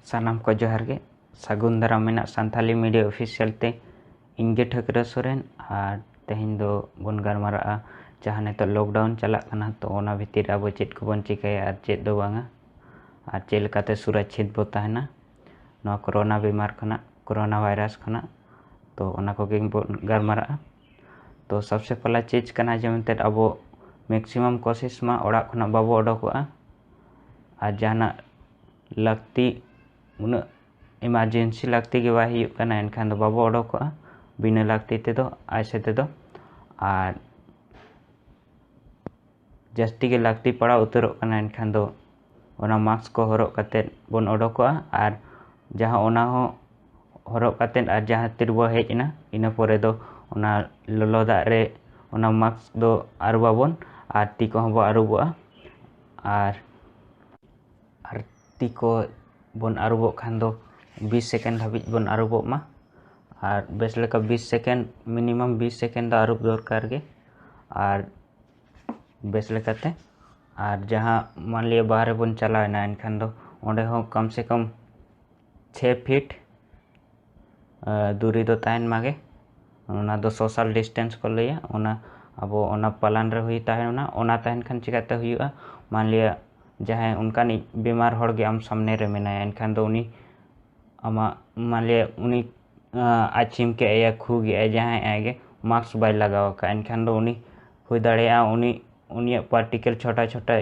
ᱥᱟᱱᱟᱢ ᱠᱚ ᱡᱚᱦᱟᱨ ᱜᱮ ᱥᱟᱹᱜᱩᱱ ᱫᱟᱨᱟᱢ ᱢᱮᱱᱟᱜ ᱥᱟᱱᱛᱟᱞᱤ ᱢᱤᱰᱤᱭᱟ ᱚᱯᱷᱤᱥᱤᱭᱟᱞ ᱛᱮ ᱤᱧ ᱜᱮ ᱴᱷᱟᱹᱠᱨᱟᱹ ᱥᱚᱨᱮᱱ ᱟᱨ ᱛᱮᱦᱮᱧ ᱫᱚ ᱵᱚᱱ ᱜᱟᱞᱢᱟᱨᱟᱜᱼᱟ ᱡᱟᱦᱟᱸ ᱱᱤᱛᱚᱜ ᱞᱚᱠᱰᱟᱣᱩᱱ ᱪᱟᱞᱟᱜ ᱠᱟᱱᱟ ᱛᱚ ᱚᱱᱟ ᱵᱷᱤᱛᱤᱨ ᱟᱵᱚ ᱪᱮᱫ ᱠᱚᱵᱚᱱ ᱪᱤᱠᱟᱹᱭᱟ ᱟᱨ ᱪᱮᱫ ᱫᱚ ᱵᱟᱝᱟ ᱟᱨ ᱪᱮᱫ ᱞᱮᱠᱟᱛᱮ ᱥᱩᱨᱟᱪᱷᱤᱛ ᱵᱚ ᱛᱟᱦᱮᱱᱟ ᱱᱚᱣᱟ ᱠᱳᱨᱳᱱᱟ ᱵᱤᱢᱟᱨ ᱠᱷᱚᱱᱟᱜ ᱠᱳᱨᱳᱱᱟ ᱵᱷᱟᱭᱨᱟᱥ ᱠᱷᱚᱱᱟᱜ ᱛᱚ ᱚᱱᱟ ᱠᱚᱜᱮ ᱵᱚᱱ ᱜᱟᱞᱢᱟᱨᱟᱜᱼᱟ ᱛᱚ ᱥᱚᱵᱥᱮ ᱯᱮᱦᱞᱟ ᱪᱮᱡᱽ ᱠᱟᱱᱟ ᱡᱮ ᱢᱮᱱᱛᱮ ᱟᱵᱚ ᱢᱮᱠᱥᱤᱢᱟᱢ ᱠᱳᱥᱤᱥ ᱢᱟ ᱚᱲᱟᱜ ᱠᱷᱚᱱᱟᱜ ᱵᱟᱵᱚ ᱚᱰᱚᱠᱚᱜᱼᱟ ᱟᱨ ᱡᱟᱦᱟᱱᱟᱜ ᱞᱟᱹᱠᱛᱤ ᱩᱱᱟᱹᱜ ᱮᱢᱟᱨᱡᱮᱱᱥᱤ ᱞᱟᱹᱠᱛᱤ ᱜᱮ ᱵᱟᱭ ᱦᱩᱭᱩᱜ ᱠᱟᱱᱟ ᱮᱱᱠᱷᱟᱱ ᱫᱚ ᱵᱟᱵᱚ ᱚᱰᱚᱠᱚᱜᱼᱟ ᱵᱤᱱᱟᱹ ᱞᱟᱹᱠᱛᱤ ᱛᱮᱫᱚ ᱟᱡ ᱥᱟᱛᱮ ᱫᱚ ᱟᱨ ᱡᱟᱹᱥᱛᱤ ᱜᱮ ᱞᱟᱹᱠᱛᱤ ᱯᱟᱲᱟᱣ ᱩᱛᱟᱹᱨᱚᱜ ᱠᱟᱱᱟ ᱮᱱᱠᱷᱟᱱ ᱫᱚ ᱚᱱᱟ ᱢᱟᱠᱥ ᱠᱚ ᱦᱚᱨᱚᱜ ᱠᱟᱛᱮᱫ ᱵᱚᱱ ᱚᱰᱚᱠᱚᱜᱼᱟ ᱟᱨ ᱡᱟᱦᱟᱸ ᱚᱱᱟ ᱦᱚᱸ ᱦᱚᱨᱚᱜ ᱠᱟᱛᱮᱫ ᱟᱨ ᱡᱟᱦᱟᱸ ᱛᱤ ᱨᱮᱵᱚᱱ ᱦᱮᱡ ᱮᱱᱟ ᱤᱱᱟᱹ ᱯᱚᱨᱮ ᱫᱚ ᱚᱱᱟ ᱞᱚᱞᱚ ᱫᱟᱜ ᱨᱮ ᱚᱱᱟ ᱢᱟᱠᱥ ᱫᱚ ᱟᱹᱨᱩᱵ ᱟᱵᱚᱱ ᱟᱨ ᱛᱤ ᱠᱚᱦᱚᱸ ᱵᱚᱱ ᱟᱹᱨᱩᱵᱚᱜᱼᱟ ᱟᱨ ᱟᱨ ᱛᱤ ᱠᱚ ᱵᱚᱱ ᱟᱹᱨᱩᱵᱚᱜ ᱠᱷᱟᱱ ᱫᱚ ᱵᱤᱥ ᱥᱮᱠᱮᱱᱰ ᱫᱷᱟᱹᱵᱤᱡ ᱵᱚᱱ ᱟᱹᱨᱩᱵᱚᱜ ᱢᱟ ᱟᱨ ᱵᱮᱥ ᱞᱮᱠᱟ ᱵᱤᱥ ᱥᱮᱠᱮᱱᱰ ᱢᱤᱱᱤᱢᱟᱢ ᱵᱤᱥ ᱥᱮᱠᱮᱱᱰ ᱫᱚ ᱟᱹᱨᱩᱵ ᱫᱚᱨᱠᱟᱨ ᱜᱮ ᱟᱨ ᱵᱮᱥ ᱞᱮᱠᱟᱛᱮ ᱟᱨ ᱡᱟᱦᱟᱸ ᱢᱟᱱᱞᱤᱭᱟ ᱵᱟᱦᱨᱮ ᱵᱚᱱ ᱪᱟᱞᱟᱣᱮᱱᱟ ᱮᱱᱠᱷᱟᱱ ᱫᱚ ᱚᱸᱰᱮ ᱦᱚᱸ ᱠᱚᱢ ᱥᱮ ᱠᱚᱢ ᱪᱷᱮ ᱯᱷᱤᱴ ᱫᱩᱨᱤ ᱫᱚ ᱛᱟᱦᱮᱱ ᱢᱟᱜᱮ ᱚᱱᱟ ᱫᱚ ᱥᱳᱥᱟᱞ ᱰᱤᱥᱴᱮᱱᱥ ᱠᱚ ᱞᱟᱹᱭᱟ ᱚᱱᱟ ᱟᱵᱚ ᱚᱱᱟ ᱯᱟᱞᱟᱱ ᱨᱮ ᱦᱩᱭ ᱛᱟᱦᱮᱱᱟ ᱚᱱᱟ ᱛᱟᱦᱮᱱ ᱠᱷᱟᱱ ᱪᱤᱠᱟᱹᱛᱮ ᱦᱩᱭᱩᱜᱼᱟ ᱢᱟᱱᱞᱤᱭᱟ ᱡᱟᱦᱟᱸᱭ ᱚᱱᱠᱟᱱᱤᱡ ᱵᱤᱢᱟᱨ ᱦᱚᱲᱜᱮ ᱟᱢ ᱥᱟᱢᱱᱮ ᱨᱮ ᱢᱮᱱᱟᱭᱟ ᱮᱱᱠᱷᱟᱱ ᱫᱚ ᱩᱱᱤ ᱟᱢᱟᱜ ᱢᱟᱱᱞᱤᱭᱟ ᱩᱱᱤ ᱟᱪᱷᱤᱢ ᱠᱮᱫ ᱮᱭᱟ ᱠᱷᱩ ᱠᱮᱫ ᱮᱭᱟ ᱡᱟᱦᱟᱸᱭ ᱟᱡ ᱜᱮ ᱢᱟᱠᱥ ᱵᱟᱭ ᱞᱟᱜᱟᱣ ᱟᱠᱟᱫᱼᱟ ᱮᱱᱠᱷᱟᱱ ᱫᱚ ᱩᱱᱤ ᱦᱩᱭ ᱫᱟᱲᱮᱭᱟᱜᱼᱟ ᱩᱱᱤ ᱩᱱᱤᱭᱟᱜ ᱯᱟᱨᱴᱤᱠᱮᱞ ᱪᱷᱳᱴᱟ ᱪᱷᱳᱴᱟ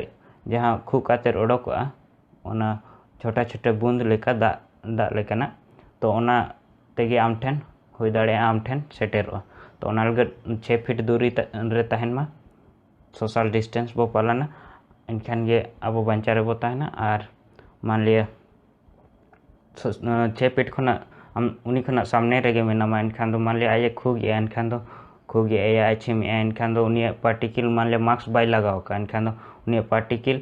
ᱡᱟᱦᱟᱸ ᱠᱷᱩᱜ ᱠᱟᱛᱮᱫ ᱚᱰᱚᱠᱚᱜᱼᱟ ᱚᱱᱟ ᱪᱷᱳᱴᱟ ᱪᱷᱳᱴᱟ ᱵᱩᱸᱫᱽ ᱞᱮᱠᱟ ᱫᱟᱜ ᱫᱟᱜ ᱞᱮᱠᱟᱱᱟᱜ ᱛᱚ ᱚᱱᱟ ᱛᱮᱜᱮ ᱟᱢ ᱴᱷᱮᱱ ᱦᱩᱭ ᱫᱟᱲᱮᱭᱟᱜᱼᱟ ᱟᱢ ᱴᱷᱮᱱ ᱥᱮᱴᱮᱨᱚᱜᱼᱟ ᱛᱚ ᱚᱱᱟ ᱞᱟᱹᱜᱤᱫ ᱪᱷᱮ ᱯᱷᱤᱴ ᱫᱩᱨᱤ ᱨᱮ ᱛᱟᱦᱮᱱ ᱢᱟ ᱥᱳᱥᱟᱞ ᱰᱤᱥᱴᱮᱱᱥ ᱵᱚᱱ ᱯᱟᱞᱚᱱᱟ ᱮᱱᱠᱷᱟᱱ ᱜᱮ ᱟᱵᱚ ᱵᱟᱧᱪᱟᱣ ᱨᱮᱵᱚᱱ ᱛᱟᱦᱮᱱᱟ ᱟᱨ ᱢᱟᱱᱞᱤᱭᱟ ᱪᱷᱮ ᱯᱷᱤᱴ ᱠᱷᱚᱱᱟᱜ ᱟᱢ ᱩᱱᱤ ᱠᱷᱚᱱᱟᱜ ᱥᱟᱢᱱᱮ ᱨᱮᱜᱮ ᱢᱮᱱᱟᱢᱟ ᱮᱱᱠᱷᱟᱱ ᱫᱚ ᱢᱟᱱᱞᱮ ᱟᱡ ᱮ ᱠᱷᱩᱜ ᱮᱫᱟᱭ ᱮᱱᱠᱷᱟᱱ ᱫᱚ ᱠᱷᱩᱜ ᱮᱫᱟᱭ ᱟᱡ ᱮ ᱪᱷᱤᱢ ᱮᱫᱟᱭ ᱮᱱᱠᱷᱟᱱ ᱫᱚ ᱩᱱᱤᱭᱟᱜ ᱯᱟᱨᱴᱤᱠᱤᱞ ᱢᱟᱱᱞᱮ ᱢᱟᱠᱥ ᱵᱟᱭ ᱞᱟᱜᱟᱣ ᱟᱠᱟᱫᱼᱟ ᱮᱱᱠᱷᱟᱱ ᱫᱚ ᱩᱱᱤᱭᱟᱜ ᱯᱟᱨᱴᱤᱠᱤᱞ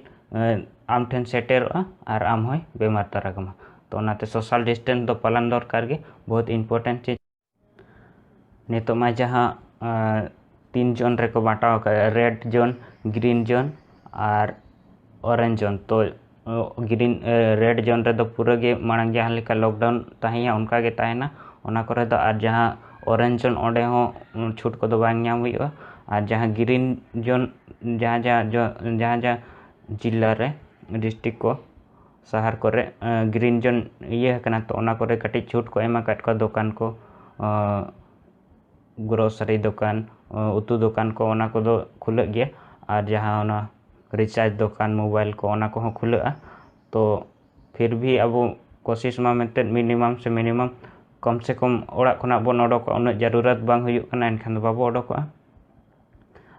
ᱟᱢ ᱴᱷᱮᱱ ᱥᱮᱴᱮᱨᱚᱜᱼᱟ ᱟᱨ ᱟᱢ ᱦᱚᱸᱭ ᱵᱮᱢᱟᱨ ᱛᱟᱨᱟ ᱠᱟᱢᱟ ᱛᱚ ᱚᱱᱟᱛᱮ ᱥᱳᱥᱟᱞ ᱰᱤᱥᱴᱮᱱᱥ ᱫᱚ ᱯᱟᱞᱚᱱ ᱫᱚᱨᱠᱟᱨ ᱜᱮ ᱵᱚᱦᱩᱛ ᱤᱢᱯᱳᱨᱴᱮᱱᱴ ᱪᱤᱡᱽ ᱱᱤᱛᱚᱜ ᱢᱟ ᱡᱟᱦᱟᱸ ᱛᱤᱱ ᱡᱳᱱ ᱨᱮᱠᱚ ᱵᱟᱸᱴᱟᱣ ᱟᱠᱟᱫᱼᱟ ᱨᱮᱰ ᱡᱳᱱ ᱜᱨᱤᱱ ᱡᱳᱱ ᱟᱨ ᱚᱨᱮᱧᱡᱽ ᱡᱳᱱ ᱛᱚ ᱜᱨᱤᱱ ᱨᱮᱰ ᱡᱳᱱ ᱨᱮᱫᱚ ᱯᱩᱨᱟᱹ ᱜᱮ ᱢᱟᱲᱟᱝ ᱡᱟᱦᱟᱸ ᱞᱮᱠᱟ ᱞᱚᱠᱰᱟᱣᱩᱱ ᱛᱟᱦᱮᱸᱭᱟ ᱚᱱᱠᱟ ᱜᱮ ᱛᱟᱦᱮᱱᱟ ᱚᱱᱟ ᱠᱚᱨᱮ ᱫᱚ ᱟᱨ ᱡᱟᱦᱟᱸ ᱚᱨᱮᱧᱡᱽ ᱡᱳᱱ ᱚᱸᱰᱮ ᱦᱚᱸ ᱪᱷᱩᱴ ᱠᱚᱫᱚ ᱵᱟᱝ ᱧᱟᱢ ᱦᱩᱭᱩᱜᱼᱟ ᱟᱨ ᱡᱟᱦᱟᱸ ᱜᱨᱤᱱ ᱡᱳᱱ ᱡᱟᱦᱟᱸ ᱡᱟᱦᱟᱸ ᱡᱟᱦᱟᱸ ᱡᱟᱦᱟᱸ ᱡᱤᱞᱟ ᱨᱮ ᱰᱤᱥᱴᱤᱠ ᱠᱚ ᱥᱟᱦᱟᱨ ᱠᱚᱨᱮ ᱜᱨᱤᱱ ᱡᱳᱱ ᱤᱭᱟᱹ ᱟᱠᱟᱱᱟ ᱛᱚ ᱚᱱᱟ ᱠᱚᱨᱮ ᱠᱟᱹᱴᱤᱡ ᱪᱷᱩᱴ ᱠᱚ ᱮᱢ ᱟᱠᱟᱫ ᱠᱚᱣᱟ ᱫᱚᱠᱟᱱ ᱠᱚ ᱜᱨᱚᱥᱟᱨᱤ ᱫᱚᱠᱟᱱ ᱩᱛᱩ ᱫᱚᱠᱟᱱ ᱠᱚ ᱚᱱᱟ ᱠᱚᱫᱚ ᱠᱷᱩᱞᱟᱹᱜ ᱜᱮᱭᱟ ᱟᱨ ᱡᱟᱦᱟᱸ ᱚᱱᱟ ᱨᱤᱪᱟᱨᱡᱽ ᱫᱚᱠᱟᱱ ᱢᱳᱵᱟᱭᱤᱞ ᱠᱚ ᱚᱱᱟ ᱠᱚᱦᱚᱸ ᱠᱷᱩᱞᱟᱹᱜᱼᱟ ᱛᱚ ᱯᱷᱤᱨ ᱵᱷᱤ ᱟᱵᱚ ᱠᱳᱥᱤᱥ ᱢᱟ ᱢᱤᱫᱴᱮᱱ ᱢᱤᱱᱤᱢᱟᱢ ᱥᱮ ᱢᱤᱱᱤᱢᱟᱢ ᱠᱚᱢ ᱥᱮ ᱠᱚᱢ ᱚᱲᱟᱜ ᱠᱷᱚᱱᱟᱜ ᱵᱚᱱ ᱚᱰᱚᱠᱚᱜᱼᱟ ᱩᱱᱟᱹᱜ ᱡᱟᱹᱨᱩᱨᱟᱛ ᱵᱟᱝ ᱦᱩᱭᱩᱜ ᱠᱟᱱᱟ ᱮᱱᱠᱷᱟᱱ ᱫᱚ ᱵᱟᱵᱚ ᱚᱰᱚᱠᱚᱜᱼᱟ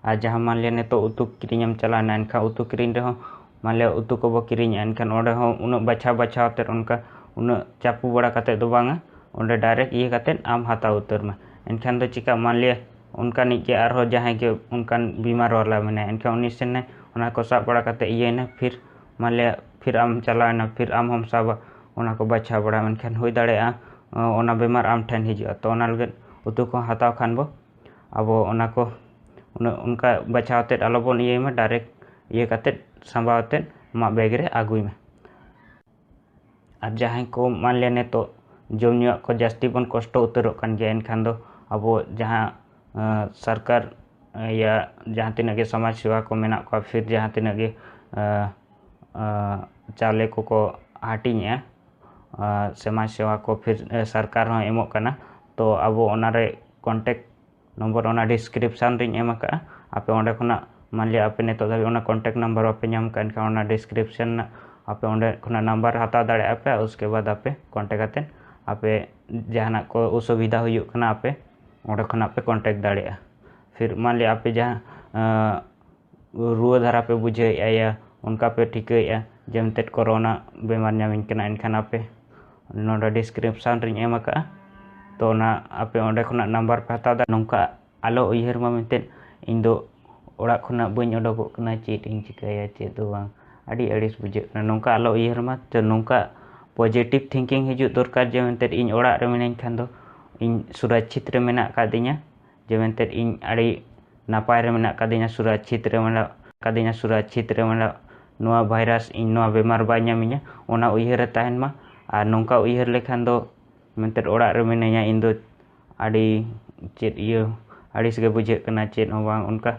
ᱟᱨ ᱡᱟᱦᱟᱸ ᱢᱟᱱᱞᱤᱭᱟ ᱱᱤᱛᱚᱜ ᱩᱛᱩ ᱠᱤᱨᱤᱧ ᱮᱢ ᱪᱟᱞᱟᱣᱱᱟ ᱮᱱᱠᱷᱟᱱ ᱩᱛᱩ ᱠᱤᱨᱤᱧ ᱨᱮᱦᱚᱸ ᱢᱟᱱᱞᱤᱭᱟ ᱩᱛᱩ ᱠᱚᱵᱚ ᱠᱤᱨᱤᱧᱮᱜᱼᱟ ᱮᱱᱠᱷᱟᱱ ᱚᱸᱰᱮ ᱦᱚᱸ ᱩᱱᱟᱹᱜ ᱵᱟᱪᱷᱟᱣ ᱵᱟᱪᱷᱟᱣ ᱛᱮ ᱚᱱᱠᱟ ᱩᱱᱟᱹᱜ ᱪᱟᱯᱚ ᱵᱟᱲᱟ ᱠᱟᱛᱮ ᱫᱚ ᱵᱟᱝᱟ ᱚᱸᱰᱮ ᱰᱟᱭᱨᱮᱠᱴ ᱤᱭᱟᱹ ᱠᱟᱛᱮ ᱟᱢ ᱦᱟᱛᱟᱣ ᱩᱛᱟᱹᱨ ᱢᱮ ᱮᱱᱠᱷᱟᱱ ᱫᱚ ᱪᱤᱠᱟᱹᱜᱼᱟ ᱢᱟᱱᱞᱤᱭᱟ ᱚᱱᱠᱟᱱᱤᱡ ᱜᱮ ᱟᱨᱦᱚᱸ ᱡᱟᱦᱟᱸᱭ ᱜᱮ ᱚᱱᱠᱟᱱ ᱵᱤᱢᱟᱨ ᱵᱟᱞᱟ ᱢᱮᱱᱟᱭᱟ ᱮᱱᱠᱷᱟᱱ ᱩᱱᱤ ᱥᱮᱱᱟᱭ ᱚᱱᱟ ᱠᱚ ᱥᱟᱵ ᱵᱟᱲᱟ ᱠᱟᱛᱮ ᱤᱭᱟᱹᱭᱱᱟᱭ ᱯᱷᱤᱨ ᱢᱟᱱᱞᱤᱭᱟ ᱯᱷᱤᱨ ᱟᱢ ᱪᱟᱞᱟᱣᱱᱟ ᱯᱷᱤᱨ ᱟᱢ ᱦᱚᱸᱢ ᱥᱟᱵᱟ ᱚᱱᱟ ᱠᱚ ᱵᱟᱪᱷᱟᱣ ᱵᱟᱲᱟ ᱮᱱᱠᱷᱟᱱ ᱦᱩᱭ ᱫᱟᱲᱮᱭᱟᱜᱼᱟ ᱚᱱᱟ ᱵᱤᱢᱟᱨ ᱟᱢ ᱴᱷᱮᱱ ᱦᱤᱡᱩᱜᱼᱟ ᱛᱚ ᱚᱱᱟ ᱞᱟᱹᱜᱤᱫ ᱩᱛᱩ ᱠᱚ ᱦᱟᱛᱟᱣ ᱠᱷᱟᱱ ᱵᱚ ᱟᱵᱚ ᱚᱱᱟ ᱠᱚ ᱩᱱᱟᱹᱜ ᱚᱱᱠᱟ ᱵᱟᱪᱷᱟᱣ ᱠᱟᱛᱮᱫ ᱟᱞᱚ ᱵᱚᱱ ᱤᱭᱟᱹᱭ ᱢᱟ ᱰᱟᱭᱨᱮᱠᱴ ᱤᱭᱟᱹ ᱠᱟᱛᱮᱫ ᱥᱟᱢᱵᱟᱣ ᱠᱟᱛᱮᱫ ᱟᱢᱟᱜ ᱵᱮᱜᱽ ᱨᱮ ᱟᱹᱜᱩᱭ ᱢᱮ ᱟᱨ ᱡᱟᱦᱟᱸᱭ ᱠᱚ ᱢᱟᱱᱞᱮ ᱱᱤᱛᱚᱜ ᱡᱚᱢ ᱧᱩᱣᱟᱜ ᱠᱚ ᱡᱟᱹᱥᱛᱤ ᱵᱚᱱ ᱠᱚᱥᱴᱚ ᱩᱛᱟᱹᱨᱚᱜ ᱠᱟᱱ ᱜᱮᱭᱟ ᱮᱱᱠᱷᱟᱱ ᱫᱚ ᱟᱵᱚ ᱡᱟᱦᱟᱸ ᱥᱚᱨᱠᱟᱨ ᱤᱭᱟᱹ ᱡᱟᱦᱟᱸ ᱛᱤᱱᱟᱹᱜ ᱜᱮ ᱥᱚᱢᱟᱡᱽ ᱥᱮᱵᱟ ᱠᱚ ᱢᱮᱱᱟᱜ ᱠᱚᱣᱟ ᱯᱷᱤᱨ ᱡᱟᱦᱟᱸ ᱛᱤᱱᱟᱹᱜ ᱜᱮ ᱪᱟᱣᱞᱮ ᱠᱚᱠᱚ ᱦᱟᱹᱴᱤᱧᱮᱜᱼᱟ ᱥᱚᱢᱟᱡᱽ ᱥᱮᱵᱟ ᱠᱚ ᱯᱷᱤᱨ ᱥᱚᱨᱠᱟᱨ ᱦᱚᱸᱭ ᱮᱢᱚᱜ ᱠᱟᱱᱟ ᱛᱚ ᱟᱵᱚ ᱚᱱᱟᱨᱮ ᱠᱚᱱᱴᱮᱠᱴ ᱱᱚᱢᱵᱚᱨ ᱚᱱᱟ ᱰᱤᱥᱠᱨᱤᱯᱥᱟᱱ ᱨᱤᱧ ᱮᱢ ᱟᱠᱟᱫᱼᱟ ᱟᱯᱮ ᱚᱸᱰᱮ ᱠᱷᱚᱱᱟᱜ ᱢᱟᱱᱞᱤᱭᱟ ᱟᱯᱮ ᱱᱤᱛᱚᱜ ᱫᱷᱟᱹᱵᱤᱡ ᱚᱱᱟ ᱠᱚᱱᱴᱮᱠᱴ ᱱᱟᱢᱵᱟᱨ ᱵᱟᱯᱮ ᱧᱟᱢ ᱠᱟᱜᱼᱟ ᱮᱱᱠᱷᱟᱱ ᱚᱱᱟ ᱰᱤᱥᱠᱨᱤᱯᱥᱟᱱ ᱨᱮᱱᱟᱜ ᱟᱯᱮ ᱚᱸᱰᱮ ᱠᱷᱚᱱᱟᱜ ᱱᱟᱢᱵᱟᱨ ᱦᱟᱛᱟᱣ ᱫᱟᱲᱮᱭᱟᱜᱼᱟ ᱯᱮ ᱩᱥᱠᱮ ᱵᱟᱫᱽ ᱟᱯᱮ ᱠᱚᱱᱴᱮᱠᱴ ᱠᱟᱛᱮᱫ ᱟᱯᱮ ᱡᱟᱦᱟᱱᱟᱜ ᱠᱚ ᱚᱥᱩᱵᱤᱫᱷᱟ ᱦᱩᱭᱩᱜ ᱠᱟᱱᱟ ᱟᱯᱮ ᱚᱸᱰᱮ ᱠᱷᱚᱱᱟᱜ ᱯᱮ ᱠᱚᱱᱴᱮᱠᱴ ᱫᱟᱲᱮᱭᱟᱜᱼᱟ ᱯᱷᱤᱨ ᱢᱟᱱᱞᱤᱭᱟ ᱟᱯᱮ ᱡᱟᱦᱟᱸ ᱨᱩᱣᱟᱹ ᱫᱷᱟᱨᱟ ᱯᱮ ᱵᱩᱡᱷᱟᱹᱣᱮᱫᱼᱟ ᱭᱟ ᱚᱱᱠᱟ ᱯᱮ ᱴᱷᱤᱠᱟᱹᱭᱮᱫᱼᱟ ᱡᱮ ᱢᱮᱱᱛᱮᱫ ᱠᱳᱨᱳᱱᱟ ᱵᱤᱢᱟᱨ ᱧᱟᱢᱤᱧ ᱠᱟᱱᱟ ᱮᱱᱠᱷᱟᱱ ᱟᱯᱮ ᱱᱚᱰᱮ ᱰᱤᱥᱠᱨᱤᱯᱥᱚᱱ ᱨᱤᱧ ᱮᱢ ᱟᱠᱟᱫᱼᱟ ᱛᱚ ᱚᱱᱟ ᱟᱯᱮ ᱚᱸᱰᱮ ᱠᱷᱚᱱᱟᱜ ᱱᱟᱢᱵᱟᱨ ᱯᱮ ᱦᱟᱛᱟᱣ ᱫᱟᱲᱮᱭᱟᱜᱼᱟ ᱱᱚᱝᱠᱟ ᱟᱞᱚ ᱩᱭᱦᱟᱹᱨ ᱢᱟ ᱢᱮᱱᱛᱮᱫ ᱤᱧ ᱫᱚ ᱚᱲᱟᱜ ᱠᱷᱚᱱᱟᱜ ᱵᱟᱹᱧ ᱩᱰᱩᱠᱚᱜ ᱠᱟᱱᱟ ᱪᱮᱫ ᱤᱧ ᱪᱤᱠᱟᱹᱭᱟ ᱪᱮᱫ ᱫᱚ ᱵᱟᱝ ᱟᱹᱰᱤ ᱟᱹᱲᱤᱥ ᱵᱩᱡᱷᱟᱹᱜ ᱠᱟᱱᱟ ᱱᱚᱝᱠᱟ ᱟᱞᱚ ᱩᱭᱦᱟᱹᱨ ᱢᱟ ᱛᱚ ᱱᱚᱝᱠᱟ ᱯᱚᱡᱮᱴᱤᱵᱽ ᱛᱷᱤᱝᱠᱤᱝ ᱦᱤᱡᱩᱜ ᱫᱚᱨᱠᱟᱨ ᱡᱮ ᱢᱮᱱᱛᱮᱫ ᱤᱧ ᱚᱲᱟᱜ ᱨᱮ ᱢᱤᱱᱟᱹᱧ ᱠᱷᱟᱱ ᱫᱚ ᱤᱧ ᱥᱩᱨᱚᱪᱪᱷᱤᱛ ᱨᱮ ᱢᱮᱱᱟᱜ ᱟᱠᱟᱫᱤᱧᱟ ᱡᱮ ᱢᱮᱱᱛᱮᱫ ᱤᱧ ᱟᱹᱰᱤ ᱱᱟᱯᱟᱭ ᱨᱮ ᱢᱮᱱᱟᱜ ᱟᱠᱟᱫᱤᱧᱟ ᱥᱩᱨᱟᱪᱷᱤᱛ ᱨᱮ ᱢᱮᱱᱟᱜ ᱟᱠᱟᱫᱤᱧᱟ ᱥᱩᱨᱟᱪᱷᱤᱛ ᱨᱮ ᱢᱮᱱᱟᱜ ᱱᱚᱣᱟ ᱵᱷᱟᱭᱨᱟᱥ ᱤᱧ ᱱᱚᱣᱟ ᱵᱮᱢᱟᱨ ᱵᱟᱭ ᱧᱟᱢᱤᱧᱟ ᱚᱱᱟ ᱩᱭᱦᱟᱹᱨ ᱨᱮ ᱛᱟᱦᱮᱱ ᱢᱟ ᱟᱨ ᱱᱚᱝᱠᱟ ᱩᱭᱦᱟᱹᱨ ᱞᱮᱠᱷᱟᱱ ᱫᱚ ᱢᱮᱱᱛᱮᱫ ᱚᱲᱟᱜ ᱨᱮ ᱢᱤᱱᱟᱹᱧᱟ ᱤᱧ ᱫᱚ ᱟᱹᱰᱤ ᱪᱮᱫ ᱤᱭᱟᱹ ᱟᱹᱲᱤᱥ ᱜᱮ ᱵᱩᱡᱷᱟᱹᱜ ᱠᱟᱱᱟ ᱪᱮᱫ ᱦᱚᱸ ᱵᱟᱝ ᱚᱱᱠᱟ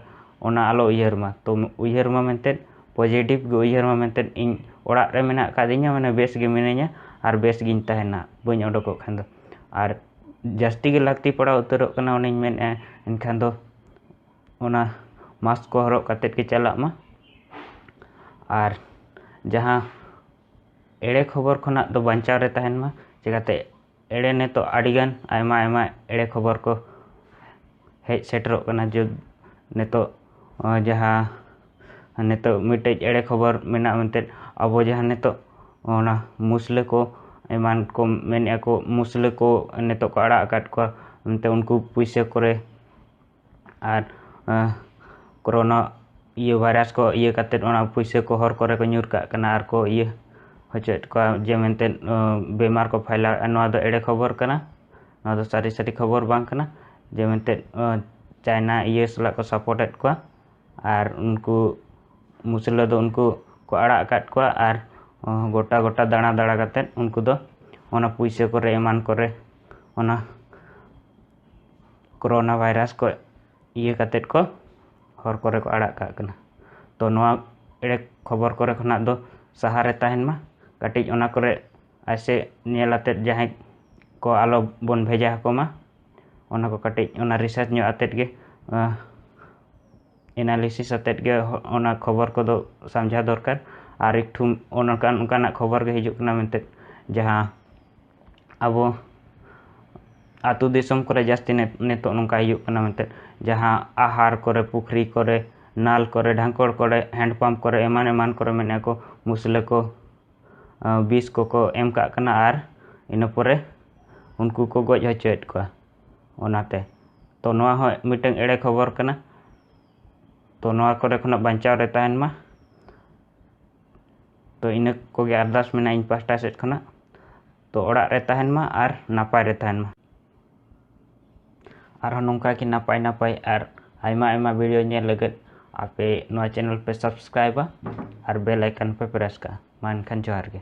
ᱚᱱᱟ ᱟᱞᱚ ᱩᱭᱦᱟᱹᱨ ᱢᱟ ᱛᱚ ᱩᱭᱦᱟᱹᱨ ᱢᱟ ᱢᱮᱱᱛᱮᱫ ᱯᱚᱡᱮᱴᱤᱵᱷ ᱜᱮ ᱩᱭᱦᱟᱹᱨ ᱢᱟ ᱢᱮᱱᱛᱮᱫ ᱤᱧ ᱚᱲᱟᱜ ᱨᱮ ᱢᱮᱱᱟᱜ ᱟᱠᱟᱫᱤᱧᱟ ᱢᱟᱱᱮ ᱵᱮᱥ ᱜᱮ ᱢᱤᱱᱟᱹᱧᱟ ᱟᱨ ᱵᱮᱥ ᱜᱤᱧ ᱛᱟᱦᱮᱱᱟ ᱵᱟᱹᱧ ᱚᱰᱚᱠᱚᱜ ᱠᱷᱟᱱ ᱫᱚ ᱟᱨ ᱡᱟᱹᱥᱛᱤ ᱜᱮ ᱞᱟᱹᱠᱛᱤ ᱯᱟᱲᱟᱣ ᱩᱛᱟᱹᱨᱚᱜ ᱠᱟᱱᱟ ᱚᱱᱟᱧ ᱢᱮᱱᱮᱫᱼᱟ ᱮᱱᱠᱷᱟᱱ ᱫᱚ ᱚᱱᱟ ᱢᱟᱠᱥ ᱠᱚ ᱦᱚᱨᱚᱜ ᱠᱟᱛᱮᱫ ᱜᱮ ᱪᱟᱞᱟᱜ ᱢᱟ ᱟᱨ ᱡᱟᱦᱟᱸ ᱮᱲᱮ ᱠᱷᱚᱵᱚᱨ ᱠᱷᱚᱱᱟᱜ ᱫᱚ ᱵᱟᱧᱪᱟᱣ ᱨᱮ ᱛᱟᱦᱮᱱ ᱢᱟ ᱪᱤᱠᱟᱹᱛᱮ ᱮᱲᱮ ᱱᱤᱛᱚᱜ ᱟᱹᱰᱤᱜᱟᱱ ᱟᱭᱢᱟ ᱟᱭᱢᱟ ᱮᱲᱮ ᱠᱷᱚᱵᱚᱨ ᱠᱚ ᱦᱮᱡ ᱥᱮᱴᱮᱨᱚᱜ ᱠᱟᱱᱟ ᱡᱮ ᱱᱤᱛᱚᱜ ᱡᱟᱦᱟᱸ ᱱᱤᱛᱚᱜ ᱢᱤᱫᱴᱮᱡ ᱮᱲᱮ ᱠᱷᱚᱵᱚᱨ ᱢᱮᱱᱟᱜᱼᱟ ᱢᱮᱱᱛᱮ ᱟᱵᱚ ᱡᱟᱦᱟᱸ ᱱᱤᱛᱚᱜ ᱚᱱᱟ ᱢᱩᱥᱞᱟᱹ ᱠᱚ ᱮᱢᱟᱱ ᱠᱚ ᱢᱮᱱᱮᱫᱼᱟ ᱠᱚ ᱢᱩᱥᱞᱟᱹ ᱠᱚ ᱱᱤᱛᱚᱜ ᱠᱚ ᱟᱲᱟᱜ ᱟᱠᱟᱫ ᱠᱚᱣᱟ ᱚᱱᱛᱮ ᱩᱱᱠᱩ ᱯᱩᱭᱥᱟᱹ ᱠᱚᱨᱮ ᱟᱨ ᱠᱳᱨᱳᱱᱟ ᱤᱭᱟᱹ ᱵᱷᱟᱭᱨᱟᱥ ᱠᱚ ᱤᱭᱟᱹ ᱠᱟᱛᱮ ᱚᱱᱟ ᱯᱩᱭᱥᱟᱹ ᱠᱚ ᱦᱚᱨ ᱠᱚᱨᱮ ᱠᱚ ᱧᱩᱨ ᱠᱟᱜ ᱠᱟᱱᱟ ᱟᱨ ᱠᱚ ᱤᱭᱟᱹ ᱦᱚᱪᱚᱭᱮᱫ ᱠᱚᱣᱟ ᱡᱮ ᱢᱮᱱᱛᱮ ᱵᱤᱢᱟᱨ ᱠᱚ ᱯᱷᱟᱭᱞᱟᱣᱮᱫᱼᱟ ᱱᱚᱣᱟ ᱫᱚ ᱮᱲᱮ ᱠᱷᱚᱵᱚᱨ ᱠᱟᱱᱟ ᱱᱚᱣᱟ ᱫᱚ ᱥᱟᱹᱨᱤ ᱥᱟᱹᱨᱤ ᱠᱷᱚᱵᱚᱨ ᱵᱟᱝ ᱠᱟᱱᱟ ᱡᱮ ᱢᱮᱱᱛᱮ ᱪᱟᱭᱱᱟ ᱤᱭᱟᱹ ᱥᱟᱞᱟᱜ ᱠᱚ ᱥᱟᱯᱳᱨᱴᱮᱫ ᱠᱚᱣᱟ ᱟᱨ ᱩᱱᱠᱩ ᱢᱩᱥᱞᱟᱹ ᱫᱚ ᱩᱱᱠᱩ ᱠᱚ ᱟᱲᱟᱜ ᱟᱠᱟᱫ ᱠᱚᱣᱟ ᱟᱨ ᱜᱚᱴᱟ ᱜᱚᱴᱟ ᱫᱟᱬᱟ ᱫᱟᱬᱟ ᱠᱟᱛᱮᱫ ᱩᱱᱠᱩ ᱫᱚ ᱚᱱᱟ ᱯᱩᱭᱥᱟᱹ ᱠᱚᱨᱮ ᱮᱢᱟᱱ ᱠᱚᱨᱮ ᱚᱱᱟ ᱠᱳᱨᱳᱱᱟ ᱵᱷᱟᱭᱨᱟᱥ ᱠᱚ ᱤᱭᱟᱹ ᱠᱟᱛᱮᱫ ᱠᱚ ᱦᱚᱨ ᱠᱚᱨᱮ ᱠᱚ ᱟᱲᱟᱜ ᱠᱟᱜ ᱠᱟᱱᱟ ᱛᱳ ᱱᱚᱣᱟ ᱮᱲᱮ ᱠᱷᱚᱵᱚᱨ ᱠᱚᱨᱮ ᱠᱷᱚᱱᱟᱜ ᱫᱚ ᱥᱟᱦᱟ ᱨᱮ ᱛᱟᱦᱮᱱ ᱢᱟ ᱠᱟᱹᱴᱤᱡ ᱚᱱᱟ ᱠᱚᱨᱮ ᱟᱭᱥᱮ ᱧᱮᱞ ᱟᱛᱮᱫ ᱡᱟᱦᱟᱸᱭ ᱠᱚ ᱟᱞᱚ ᱵᱚᱱ ᱵᱷᱮᱡᱟ ᱟᱠᱚ ᱢᱟ ᱚᱱᱟ ᱠᱚ ᱠᱟᱹᱴᱤᱡ ᱚᱱᱟ ᱨᱤᱥᱟᱨᱪ ᱧᱚᱜ ᱟᱛᱮᱫ ᱜᱮ ᱮᱱᱟᱞᱤᱥᱤᱥ ᱟᱛᱮᱫ ᱜᱮ ᱚᱱᱟ ᱠᱷᱚᱵᱚᱨ ᱠᱚᱫᱚ ᱥᱟᱢᱡᱷᱟᱣ ᱫᱚᱨᱠᱟᱨ ᱟᱨ ᱮᱠᱴᱩ ᱚᱱᱠᱟᱱ ᱚᱱᱠᱟᱱᱟᱜ ᱠᱷᱚᱵᱚᱨ ᱜᱮ ᱦᱤᱡᱩᱜ ᱠᱟᱱᱟ ᱢᱮᱱᱛᱮ ᱡᱟᱦᱟᱸ ᱟᱵᱚ ᱟᱹᱛᱩ ᱫᱤᱥᱚᱢ ᱠᱚᱨᱮ ᱡᱟᱹᱥᱛᱤ ᱱᱤᱛᱚᱜ ᱱᱚᱝᱠᱟ ᱦᱩᱭᱩᱜ ᱠᱟᱱᱟ ᱢᱮᱱᱛᱮ ᱡᱟᱦᱟᱸ ᱟᱦᱟᱨ ᱠᱚᱨᱮ ᱯᱩᱠᱷᱨᱤ ᱠᱚᱨᱮ ᱱᱟᱞ ᱠᱚᱨᱮ ᱰᱷᱟᱝᱠᱚᱲ ᱠᱚᱨᱮ ᱦᱮᱱᱰ ᱯᱟᱢᱯ ᱠᱚᱨᱮ ᱮᱢᱟᱱ ᱮᱢᱟᱱ ᱠᱚᱨᱮ ᱢᱮᱱᱮᱫᱼᱟ ᱠᱚ ᱢᱩᱥᱞᱟᱹ ᱠᱚ ᱵᱤᱥ ᱠᱚᱠᱚ ᱮᱢ ᱠᱟᱜ ᱠᱟᱱᱟ ᱟᱨ ᱤᱱᱟᱹ ᱯᱚᱨᱮ ᱩᱱᱠᱩ ᱠᱚ ᱜᱚᱡ ᱦᱚᱪᱚᱭᱮᱫ ᱠᱚᱣᱟ ᱚᱱᱟᱛᱮ ᱛᱚ ᱱᱚᱣᱟ ᱦᱚᱸ ᱢᱤᱫᱴᱟᱝ ᱮᱲᱮ ᱠᱷᱚᱵᱚᱨ ᱠᱟᱱᱟ ᱛᱚ ᱱᱚᱣᱟ ᱠᱚᱨᱮ ᱠᱷᱚᱱᱟᱜ ᱵᱟᱧᱪᱟᱣ ᱨᱮ ᱛᱟᱦᱮᱱ ᱢᱟ ᱛᱚ ᱤᱱᱟᱹ ᱠᱚᱜᱮ ᱟᱨᱫᱟᱥ ᱢᱮᱱᱟᱜᱼᱟ ᱤᱧ ᱯᱟᱥᱴᱟ ᱥᱮᱫ ᱠᱷᱚᱱᱟᱜ ᱛᱚ ᱚᱲᱟᱜ ᱨᱮ ᱛᱟᱦᱮᱱ ᱢᱟ ᱟᱨ ᱱᱟᱯᱟᱭ ᱨᱮ ᱛᱟᱦᱮᱱ ᱢᱟ ᱟᱨᱦᱚᱸ ᱱᱚᱝᱠᱟ ᱜᱮ ᱱᱟᱯᱟᱭ ᱱᱟᱯᱟᱭ ᱟᱨ ᱟᱭᱢᱟ ᱟᱭᱢᱟ ᱵᱷᱤᱰᱤᱭᱳ ᱧᱮᱞ ᱞᱟᱹᱜᱤᱫ ᱟᱯᱮ ᱱᱚᱣᱟ ᱪᱮᱱᱮᱞ ᱯᱮ ᱥᱟᱵᱥᱠᱨᱟᱭᱤᱵᱟ ᱟᱨ ᱵᱮᱞ ᱟᱭᱠᱚᱱ ᱯᱮ ᱯᱨᱮᱥ ᱠᱟᱜᱼᱟ ᱢᱟ ᱮᱱᱠᱷᱟᱱ ᱡᱚᱦᱟᱨ ᱜᱮ